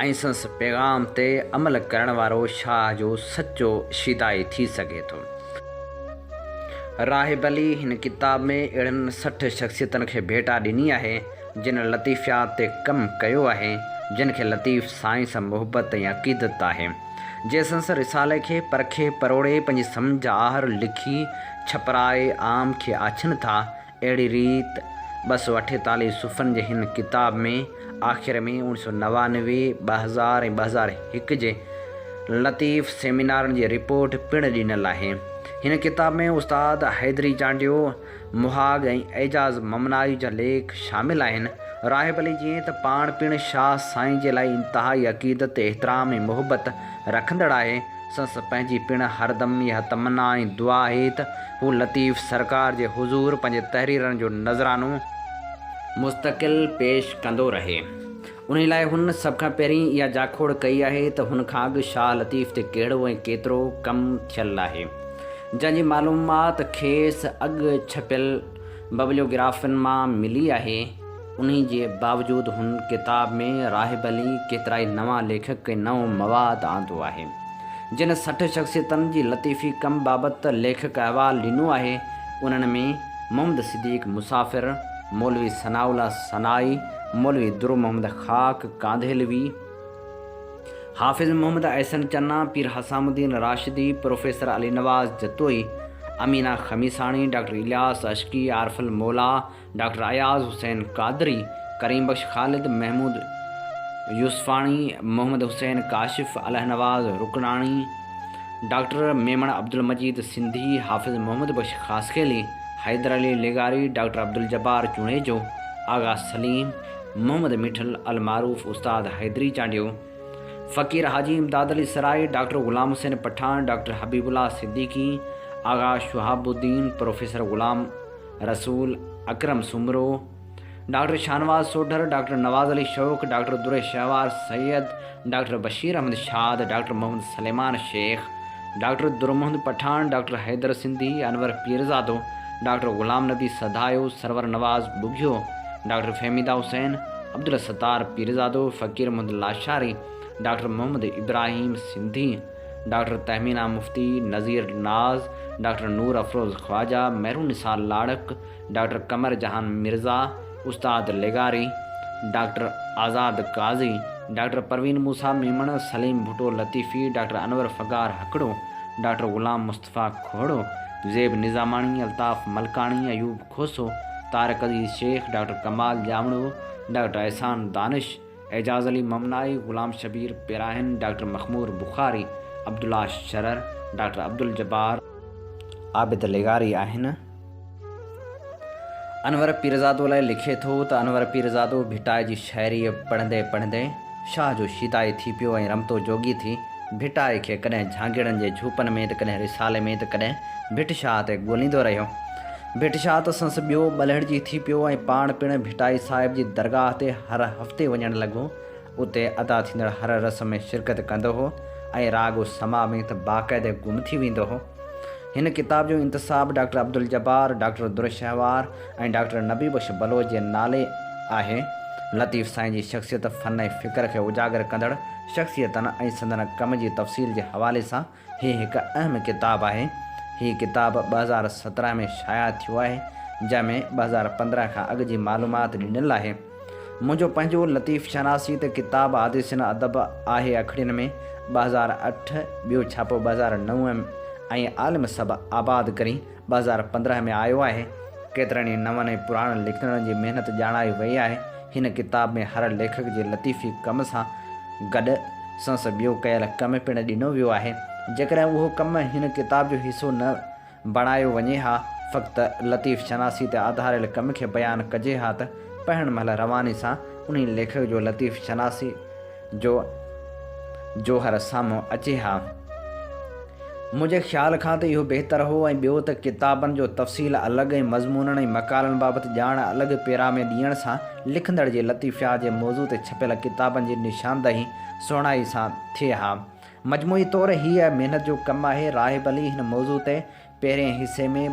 Speaker 1: ۽ سنس پيغام تي عمل ڪرڻ وارو شاهه جو سچو شيدائي ٿي سگهي ٿو. راهب علي هن ڪتاب ۾ اهڙن سٺ شخصيتن کي ڀيٽا ڏني آهي، جن لطيفيات تي ڪم ڪيو آهي، جن کي لطيف سائين سان محبت ۽ عقيدت آهي، جي سنس رسالي کي پرکي پروڙي پنهنجي سمجهه آهر لکي ڇپرائي عام کي آڇين ٿا اهڙي ريت ٻه سؤ اٺيتاليهه صفحن جي هن ڪتاب ۾ آخر ۾ اوڻ سؤ نوانوي، ٻه هزار ۽ ٻه هزار هڪ جي لطيف سيمينارن جي رپورٽ پڻ ڏنل آهي. هن ڪتاب ۾ استاد حيدري چانڊيو، مهاڳ ۽ اعجاز ممنائي جا ليک شامل آهن. راهب علي جيئن ته پاڻ پڻ شاهه سائين جي لاء انتهائي عقيدت، احترام ۽ محبت رکندڙ آهي، سنس پنهنجي پڻ هردم اها تمنا ۽ دعا آهي ته هو لطيف سرڪار جي حضور پنهنجي تحريرن جو نذرانو مستقل پيش ڪندو رهي انهي لاء هن سڀ کان پهرين اها جاکوڙ ڪئي آهي ته هن کان اڳ شاهه لطيف تي ڪهڙو ۽ ڪيترو ڪم ٿيل آهي جنهن جي معلومات کيس اڳ ڇپيل ببليوگرافين مان ملي آهي. انهي جي باوجود هن ڪتاب ۾ راهب علي ڪيترائي نوان ليکڪ ۽ نئون مواد آندو آهي. جن سٺ شخصيتن جي لطيفي ڪم بابت ليکڪ احوال ڏنو آهي، انهن ۾ محمد صديق مسافر، مولوي ثناء الله سنائي، مولوي Dur Muhammad Khak Kandhlvi, Hafiz Muhammad Ahsan Channa, Pir Hussam Uddin Rashdi, professor Ali Nawaz Jatoi, Amina Khamisani, doctor Ilyas Ishqi, Arif Almola, doctor Ayaz Hussain Qadri, Karim Bux Khalid, Mahmood Yousfani, Muhammad Hussain Kashif, Allah Nawaz Rukanani, doctor Memon Abdulmajeed Sindhi, Hafiz Muhammad Bux Khaskheli, Haider Ali لغاري، ڊاڪٽر عبدالجبار جوڻيجو، آغا سليم، محمد ميٺل، المعروف استاد Hyderi Chandio, Faqir Haji Imdad Ali Sarai, doctor Ghulam Hussain Pathan, doctor Habib Ullah Siddiqui, Agha Shahab Uddin, professor Ghulam. Rasool Akram Soomro, doctor Shahnawaz Sodhar, doctor Nawaz Ali Shauq, doctor Dur Shahwar Syed, doctor Bashir Ahmed Shad, doctor Muhammad Suleman Shaikh, doctor Dur Muhammad Pathan, doctor Haider Sindhi, Anwar Pirzado, doctor Ghulam Nabi Sadhayo, Sarwar Nawaz Bughio, doctor Fahmida Hussain, Abdul Sattar Pirzado, Faqir Muhammad Lashari, doctor Muhammad Ibrahim Sindhi, doctor Tahmina Mufti, Nazir Naz, doctor Noor Afroz Khawaja, Mehrun Nisar Larak, doctor Qamar جهان مرزا، استاد لغاري، ڊاڪٽر آزاد قاضي، ڊاڪٽر پروين موسيٰ ميمڻ، سليم ڀٽو لطيفي، ڊاڪٽر انور فغار هڪڙو، doctor Ghulam Mustafa Khuhro, Zeb Nizamani, Altaf Malkani, Ayub Khoso, Tariq Aziz Shaikh, doctor Kamal Jamro, doctor Ehsan Danish, Ejaz Ali Mamnai, Ghulam Shabbir Pirahan, doctor Makhmoor Bukhari, Abdullah Sharar, doctor Abdul Jabbar, Abid لغاري آهن انور پيرزادو لاء لکي ٿو ته انور پيرزادو ڀٽائي جي شاعريء پڙهندي پڙهندي شاهه جو شيدائي ٿي پيو ۽ رمتو جوڳي ٿي ڀٽائي کي ڪڏهن جهانگيڙن جي جهوپن ۾ ته ڪڏهن رسالي ۾ ته ڪڏهن ڀٽ شاهه تي ڳوليندو رهيو ڀٽ شاهه ته سنس ٻيو ٻلهڙجي ٿي پيو ۽ پاڻ پڻ ڀٽائي صاحب جي درگاهه تي هر هفتي وڃڻ لڳو. اتي ادا ٿيندڙ هر رسم ۾ شرڪت ڪندو هو ۽ راڳ و سماع ۾ ته باقاعده گم ٿي ويندو هو. هن ڪتاب جو انتساب doctor Abdul Jabbar, doctor Durshahwar ۽ doctor Nabi Bakhsh Baloch جي نالي آهي. لطيف سائين جي شخصيت، فن ۽ فڪر کي اجاگر ڪندڙ شخصيتن ۽ سندن ڪم جي تفصيل جي حوالي سان هي هڪ اهم ڪتاب آهي. هي ڪتاب ٻه هزار سترهن ۾ شايع ٿيو آهي، جنهن ۾ ٻه هزار پندرهن کان اڳ جي معلومات ڏنل آهي. منهنجو پنهنجو لطيف شناسي ته ڪتاب حادثين ادب آهي اکڙين ۾ ٻه هزار اٺ، ٻيو ڇاپو ٻه هزار نو ۽ عالم سڀ آباد ڪرين ٻه هزار پندرهن ۾ آيو آهي. ڪيترن ئي نون ۽ پراڻن لکندڙن جي محنت ڄاڻائي وئي آهي. هن ڪتاب ۾ هر ليکڪ جي لطيفي ڪم سان گڏ سنس ٻيو ڪيل ڪم پڻ ڏنو ويو آهي. جيڪڏهن اهو ڪم هن ڪتاب جو حصو نه بڻايو وڃي ها، فقط لطيف شناسي تي آڌاريل ڪم کي بيان ڪجي ها ته پڙهڻ مهل رواني سان انهي ليکڪ جو لطيف شناسي جو جوهر سامهون اچي ها. منهنجي خيال کان ته اهو بهتر هو ۽ ٻيو ته ڪتابن جو تفصيل الڳ ۽ مضمونن ۽ مقالن بابت ڄاڻ الڳ پيرا ۾ ڏيڻ سان لکندڙ جي لطيفيات جي موضوع تي ڇپيل ڪتابن جي نشاندهي سهڻائي سان ٿئي ها. مجموعي طور هيء محنت جو ڪم آهي. راهب علي هن موضوع تي پهرين حصي ۾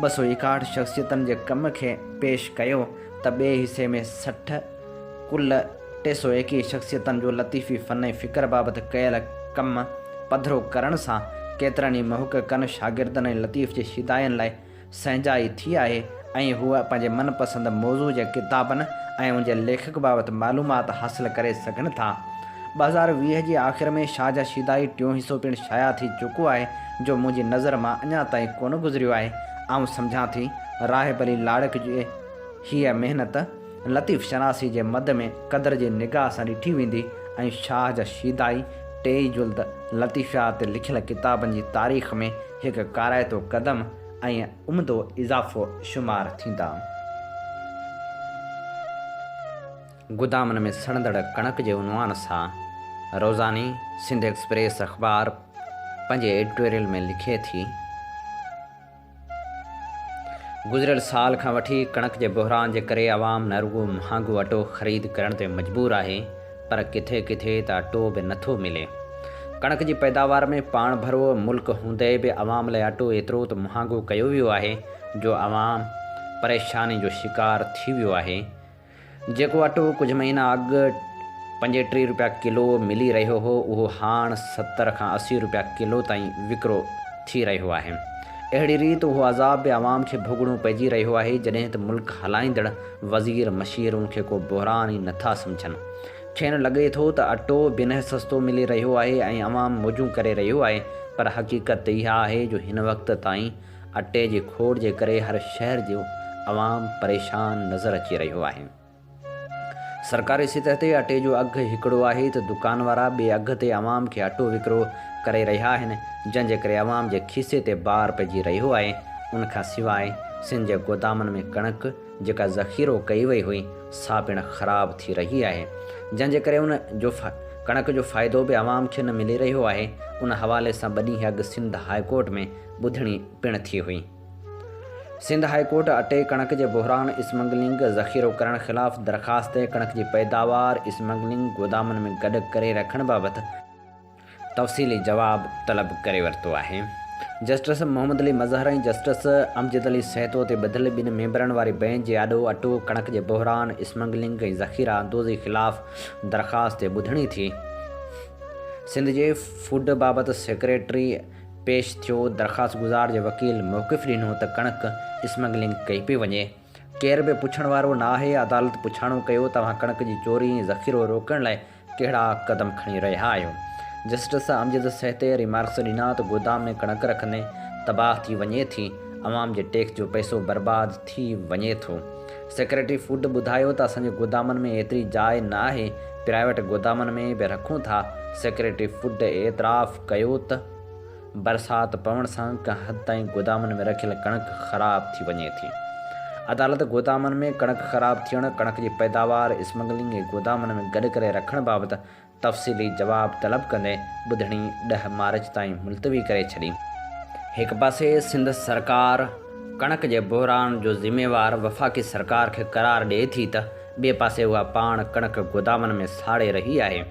Speaker 1: ٻه سؤ ايڪاهٺ شخصيتن جي ڪم کي پيش ڪيو ته ٻئي حصي ۾ سٺ، ڪل ٽي سؤ ايڪيهه شخصيتن جو لطيفي فن ۽ فڪر بابت ڪيل ڪم پڌرو ڪرڻ سان ڪيترن ئي محققن، شاگردن ۽ لطيف جي شيدائين لاء سهنجائي ٿي آهي. ۽ هوء پنهنجي من پسند موضوع جي ڪتابن ۽ ان جي ليکڪ بابت معلومات حاصل ڪري سگهن ٿا. ٻه هزار ويهه جي آخر ۾ شاهه جا شيدائي ٽيون حصو پڻ شايع ٿي چڪو آهي، جو منهنجي نظر مان اڃا تائين ڪونه گذريو آهي. آئون سمجهان ٿي، راهب علي لاڙڪ جي هيء محنت، لطيف شناسي جي مد ۾ قدر جي نگاهه سان ڏٺي ويندي ۽ شاهه جا شيدائي ٽيئي جلد لطيفيات تي لکيل ڪتابن جي تاريخ ۾ هڪ ڪارائتو قدم ۽ عمدو اضافو شمار ٿيندا. گودامن ۾ سڙندڙ ڪڻڪ جي عنوان سان روزاني سنڌ ايڪسپريس اخبار پنهنجي ايڊيٽوريل ۾ لکي ٿي، گذريل سال کان وٺي ڪڻڪ جي بحران جي ڪري عوام نه رڳو مهانگو اٽو خريد ڪرڻ تي مجبور آهي، پر ڪٿي ڪٿي ته اٽو به نٿو ملي. ڪڻڪ جي پيداوار ۾ پاڻ ڀرو ملڪ هوندي به عوام لاء اٽو ايترو ته مهانگو ڪيو ويو آهي جو عوام پريشاني جو شڪار ٿي ويو آهي. جيڪو اٽو ڪجهه مهينا اڳ پنجين ٽين روپيا ڪلو ملي رهيو هو اهو هاڻ ستر کان اسي روپيا ڪلو تائين وڪرو ٿي رهيو آهي. اهڙي ريت اهو عذاب به عوام کي ڀوڳڻو پئجي رهيو آهي جڏهن ته ملڪ هلائيندڙ وزير مشير ان کي ڪو بحران ئي نٿا سمجهن. کين لڳي ٿو ته اٽو بنهه سستو ملي رهيو آهي ۽ عوام موجون ڪري رهيو آهي پر حقيقت ته اها آهي جو هن وقت تائين اٽي جي کوڙ جي ڪري هر شهر جو عوام پريشان نظر اچي رهيو آهي. سرڪاري سطح تي اٽي جو اگهه هڪڙو آهي ته دڪان وارا ٻئي اگهه تي عوام کي اٽو وڪرو ڪري رهيا آهن جنهن جي ڪري عوام جي کيسي تي بار پئجي رهيو آهي ان کان سواء سنڌ جي گودامن ۾ ڪڻڪ جيڪا ذخيرو ڪئي وئي هئي سا پڻ خراب ٿي رهي آهي جنهن جي ڪري ان جو ڪڻڪ جو فائدو به عوام کي نه ملي رهيو آهي ان حوالي سان ٻه ڏينهن اڳ سنڌ هاء ڪورٽ ۾ ٻڌڻي پڻ ٿي هئي سنڌ هاء ڪورٽ اٽي ڪڻڪ جي بحران اسمگلنگ ذخيرو ڪرڻ خلاف درخواست ڪڻڪ جي پيداوار اسمگلنگ گودامن ۾ گڏ ڪري رکڻ بابت تفصيلي جواب طلب ڪري ورتو آهي. جسٽس محمد علي مظهر ۽ جسٽس امجد علي سهتو تي ٻڌل ٻن ميمبرن واري بئنچ جي آڏو اٽو، ڪڻڪ جي بحران، اسمگلنگ ۽ ذخيره اندوزي خلاف درخواست تي ٻڌڻي ٿي. سنڌ جي فوڊ بابت سيڪريٽري پيش ٿيو، درخواستگذار جي وڪيل موقف ڏنو ته ڪڻڪ اسمگلنگ ڪئي پئي وڃي. ڪير به پڇڻ وارو نه آهي، عدالت پڇاڻو ڪيو توهان ڪڻڪ جي چوري ۽ ذخيرو روڪڻ لاء ڪهڙا قدم کڻي رهيا آهيو؟ جسٽس امجد سهتي ريمارڪس ڏنا ته گودام ۾ ڪڻڪ رکندي تباهه ٿي وڃي ٿي، عوام جي ٽيڪس جو پئسو برباد ٿي وڃي ٿو. سيڪريٽري فوڊ ٻڌايو ته اسان جي گودامن ۾ ايتري جاء نه آهي، پرائيويٽ گودامن ۾ به رکون ٿا، سيڪريٽري فوڊ اعتراف ڪيو ته. برسات پوڻ سان ڪنهن حد تائين گودامن ۾ رکيل ڪڻڪ خراب ٿي وڃي ٿي، عدالت گودامن ۾ ڪڻڪ خراب ٿيڻ، ڪڻڪ جي پيداوار اسمگلنگ ۽ گودامن ۾ گڏ ڪري رکڻ بابت تفصيلي جواب طلب ڪندي ٻڌڻي ڏهه مارچ تائين ملتوي ڪري ڇڏي. هڪ پاسي سنڌ سرڪار ڪڻڪ جي بحران جو ذميوار وفاقي سرڪار کي قرار ڏئي ٿي ته ٻئي پاسي اها پاڻ ڪڻڪ گودامن ۾ ساڙي رهي آهي،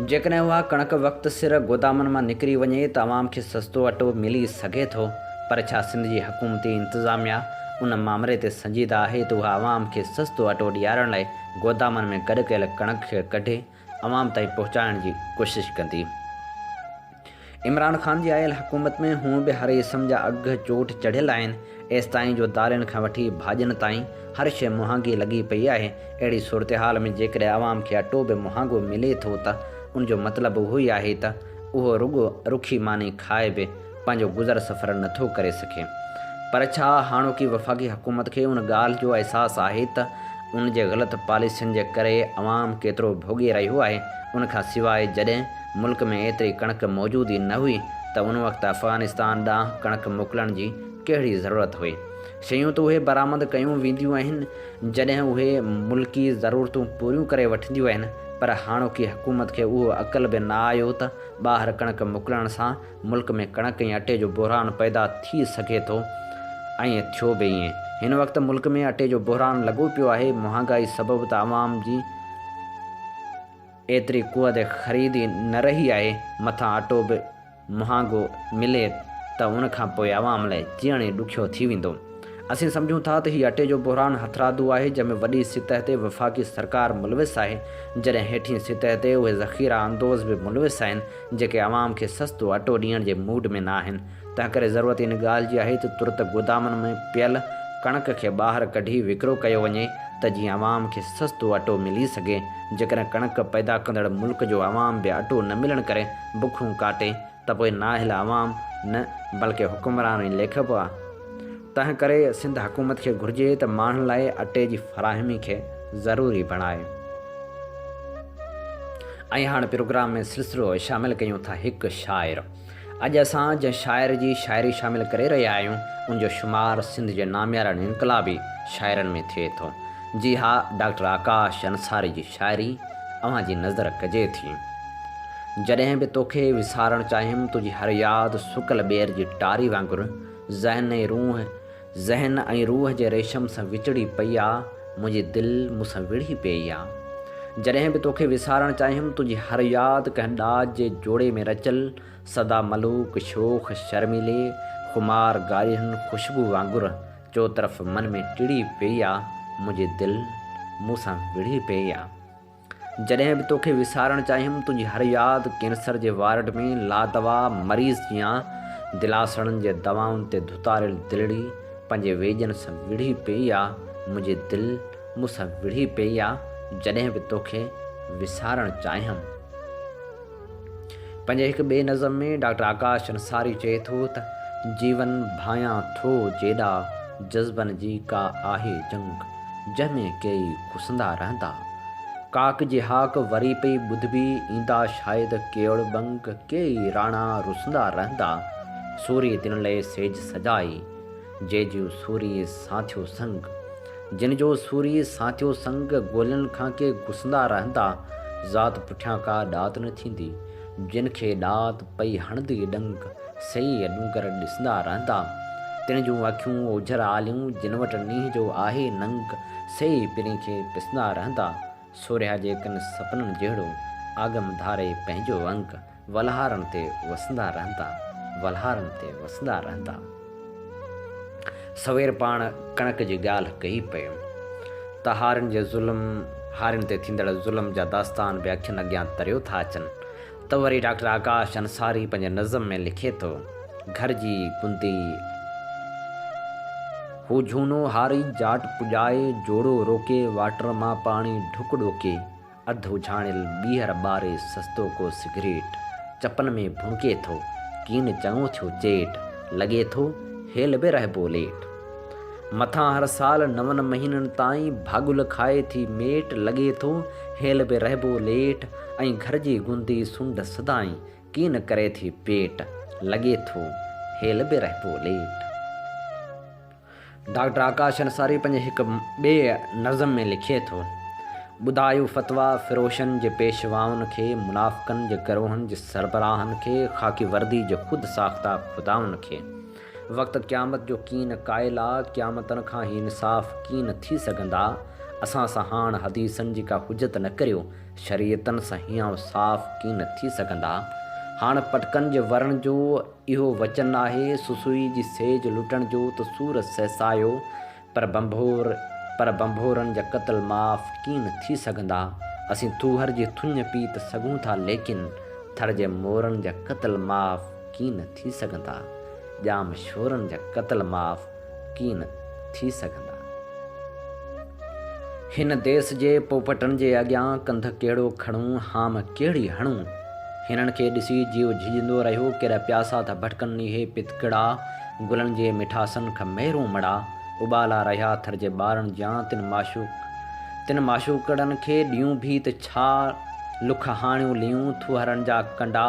Speaker 1: جيڪڏهن اها ڪڻڪ وقت سر گودامن مان نڪري وڃي ته عوام کي سستو اٽو ملي سگهي ٿو، پر ڇا سنڌ جي حڪومتي انتظاميا ان مامري تي سنجيده آهي ته اها عوام کي سستو اٽو ڏيارڻ لاء گودامن ۾ گڏ ڪيل ڪڻڪ کي ڪڍي عوام تائين پهچائڻ جي ڪوشش ڪندي. عمران خان جي آيل حڪومت ۾ هونء به هر اسم جا اگهه چوٽ چڙهيل آهن، ايستائين جو دالين کان وٺي ڀاڄين تائين هر شيء مهانگي لڳي پئي آهي، اهڙي صورتحال ۾ جيڪڏهن عوام کي اٽو به مهانگو ملي ٿو ته ان جو مطلب اهو ئي آهي ته اهو رڳو رکي ماني کائي به پنهنجو گذر سفر نه ٿو ڪري سگهي پر ڇا هاڻوڪي وفاقي حڪومت کي ان ڳالهه جو احساس آهي ته ان جي غلط پاليسين جي ڪري عوام ڪيترو ڀوڳي رهيو آهي ان کان سواء جڏهن ملڪ ۾ ايتري ڪڻڪ موجود ئي نه هئي ته ان وقت افغانستان ڏانهن ڪڻڪ موڪلڻ جي ڪهڙي ضرورت هئي شيون ته اهي برآمد ڪيون وينديون آهن جڏهن اهي ملڪي ضرورتون پوريون ڪري وٺنديون آهن پر هاڻوڪي حڪومت کي اهو عقل به نه آيو ته ٻاهر ڪڻڪ موڪلڻ سان ملڪ ۾ ڪڻڪ ۽ اٽي جو بحران پيدا ٿي سگهي ٿو ۽ ٿيو به ائين. هن وقت ملڪ ۾ اٽي جو بحران لڳو پيو آهي، مهانگائي سبب ته عوام جي ايتري قوت خريد ئي نه رهي آهي، مٿان اٽو به مهانگو ملي ته ان کان پوء عوام لاء جيئڻ ئي ڏکيو ٿي ويندو. اسين سمجهون ٿا ته هي اٽي جو بحران هٿرادو آهي جنهن ۾ وڏي سطح تي وفاقي سرڪار ملوث آهي جڏهن هيٺين سطح تي اهي ذخيرا اندوز به ملوث آهن جيڪي عوام کي سستو اٽو ڏيڻ جي موڊ ۾ نه آهن تنهنڪري ضرورت ان ڳالهه جي آهي ته ترت گودامن ۾ پيل ڪڻڪ کي ٻاهر ڪڍي وڪرو ڪيو وڃي ته جيئن عوام کي سستو اٽو ملي سگهي جيڪڏهن ڪڻڪ پيدا ڪندڙ ملڪ جو عوام به اٽو نه ملڻ ڪري بکون ڪاٽي ته پوء نااهل عوام نه بلڪه حڪمران ۽ ليکبا. تنهن ڪري سنڌ حڪومت کي گهرجي ته ماڻهن لاء اٽي جي فراهمي کي ضروري بڻائي. ۽ هاڻ پروگرام ۾ سلسلو شامل ڪيون ٿا هڪ شاعر. اڄ اسان جنهن شاعر جي شاعري شامل ڪري رهيا آهيون ان جو شمار سنڌ جي ناميارن انقلابي شاعرن ۾ ٿئي ٿو. جي ها ڊاڪٽر آڪاش انصاري جي شاعري اوهان جي نظر ڪجي ٿي. جڏهن به توکي وسارڻ چاهيم تنهنجي هر ياد سڪل ٻير جي ٽاري وانگر ذهن ۽ روح ذهن ۽ روح جي ريشم سان وچڙي پئي آ منهنجي دل مون سان وڙهي پيئي آ جڏهن به توکي وسارڻ چاهيم تنهنجي هر ياد ڪنهن ڏاج جي جوڙي ۾ رچل سدا ملوڪ شوخ شرميلي خمار ڳالهين خوشبو وانگر چوطرف من ۾ ٽڙي پيئي آ منهنجي دل مون سان وڙهي پيئي آ. جڏهن به توکي وسارڻ چاهيم، تنهنجي هر ياد ڪينسر جي وارڊ ۾ لادوا مريض جيان دلاسڻن جي دوائن تي ڌتاريل دلڙي پنهنجي ويڄن سان وڙهي پيئي آ، منهنجي دل مون سان وڙهي پيئي آ، جڏهن به توکي وسارڻ چاهيم. پنهنجي هڪ ٻئي نظم ۾ ڊاڪٽر آڪاش انصاري چئي ٿو ته، جيون ڀانئيان ٿو جيڏا، جذبن جي ڪا آهي جنگ، جنهن ۾ ڪيئي ڪسندا رهندا. ڪاڪ جي هاڪ وري پئي ٻڌبي، ايندا شايد ڪيئوڙ ٻنگ، ڪيئي راڻا رسندا رهندا. سوري دن لئي سيج سجائي. جنهن جو سوري ساٿيو سنگ. جن جو سوري ساٿيو سنگ، گولن کان ڪي گسندا رهندا، ذات پٺيان ڪا ڏات نه ٿيندي، جن کي ڏات پئي هڻندي ڏنگ، سهي ڏونگر ڏسندا رهندا، تن جون اکيون اوجهر آليون، جن وٽ نينهن جو آهي ننگ، سهي پرين کي پسندا رهندا، سورهيا جيڪن سپنن جهڙو، آگم ڌاري پنهنجو انگ. ولهارن تي وسندا رهندا، ولهارن تي وسندا رهندا. سوير پاڻ ڪڻڪ جي ڳالهه ڪئي پيم ته هارين جي ظلم، هارين تي ٿيندڙ ظلم جا داستان به اکين اڳيان تريو ٿا اچن ته وري ڊاڪٽر آڪاش انصاري پنهنجي نظم ۾ لکي ٿو، گهر جي گندي. هو جهونو هاري جاٽ پڄائي جوڙو روڪي واٽر مان پاڻي ڍڪ ڏوڪي. اڌ اجهاڻيل ٻيهر ٻاري سستو ڪو سگريٽ چپن ۾ ڀونڪي ٿو، ڪين چڱو ٿيو چيٽ، لڳي ٿو هيل به رهبو ليٽ. مٿان هر سال نون مهينن تائين ڀاڳل کائي ٿي ميٽ، لڳي ٿو هيل به رهبو ليٽ ۽ گهر جي گندي سنڍ سدائين ڪين ڪري ٿي پيٽ، لڳي ٿو هيل به رهبو ليٽ. ڊاڪٽر آڪاش انصاري پنهنجي هڪ ٻئي نظم ۾ لکي ٿو، ٻڌايو فتويٰ فروشن جي پيشوائن کي، منافقن جي گروهن جي سربراهن کي، خاڪي وردي جي خود ساخته خدائن کي. وقت قيامت جو ڪين قائل آ، قيامتن کان هي انصاف ڪين ٿي سگهندا، اسان سان هاڻ حديثن جي ڪا حجت نه ڪريو، شريعتن سان هيانء صاف ڪين ٿي سگهندا، هاڻ پٽڪن جي ورن جو. اهو وچن آهي سسئي جي سيج لٽڻ جو ته سور سهسايو پر ڀنڀور پر ڀنڀورن جا قتل معاف ڪين ٿي سگهندا اسين ٿوهر جي ٿڃ پي ته سگهون ٿا ليڪن ٿر جي مورن جا قتل معاف ڪين ٿي سگهندا ڄام شورن جا قتل معاف ڪين ٿي سگهندا. هن ديس جي پوپٽن جي اڳيان ڪنڌ ڪهڙو کڻون، هام ڪهڙي هڻون. هنن کي ڏسي جيو جهڄندو رهيو، ڪيڏا پياسا ٿا ڀٽڪن نيهي پت ڪڙا، گلن جي مٺاسن کان مهرون مڙا، اٻالا رهيا ٿر جي ٻارن جيان تن معشوق تن معشوقڙن کي ڏيون ڀيت ڇا لک هاڻيون ليون ٿوهرن جا ڪنڊا،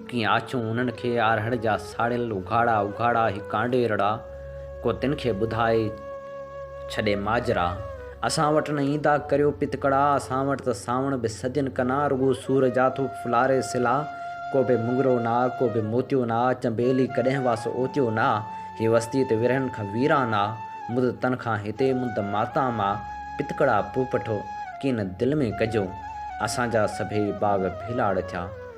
Speaker 1: ڪيئن آڇون انهن کي آرهڙ جا ساڙيل اگهاڙا اگهاڙا هي ڪانڊي رڙا، ڪو تن کي ٻڌائي ڇڏي ماجرا. اسان وٽ نه ايندا ڪريو پتڪڙا، اسان وٽ ته سانوڻ به سجن ڪنا، رڳو سور جا ٿو ڦلاري سلا، ڪو به مڱرو نه آ، ڪو به موتيو نه آ، چنبيلي ڪڏهن واس اوتيو نه آ، هي وستي ته ورهين کان ويران آ، مد تن کان هتي مد ماتام آ، پتڪڙا پوپٽو ڪين دل ۾ ڪجو، اسان جا سڀيئي باغ ڀيلاڙ ٿيا.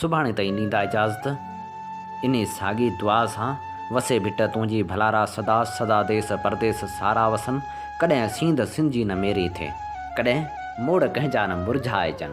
Speaker 1: سڀاڻي تائين ڏيندا اجازت. انهي ساڳي دعا سان، وسي ڀٽ تنهنجي ڀلارا سدا سدا ديس پرديس سارا وسن، ڪڏهن سينڌ سنجي نه ميري ٿي، ڪڏهن موڙ ڪنهن جا نه مرجهائجن.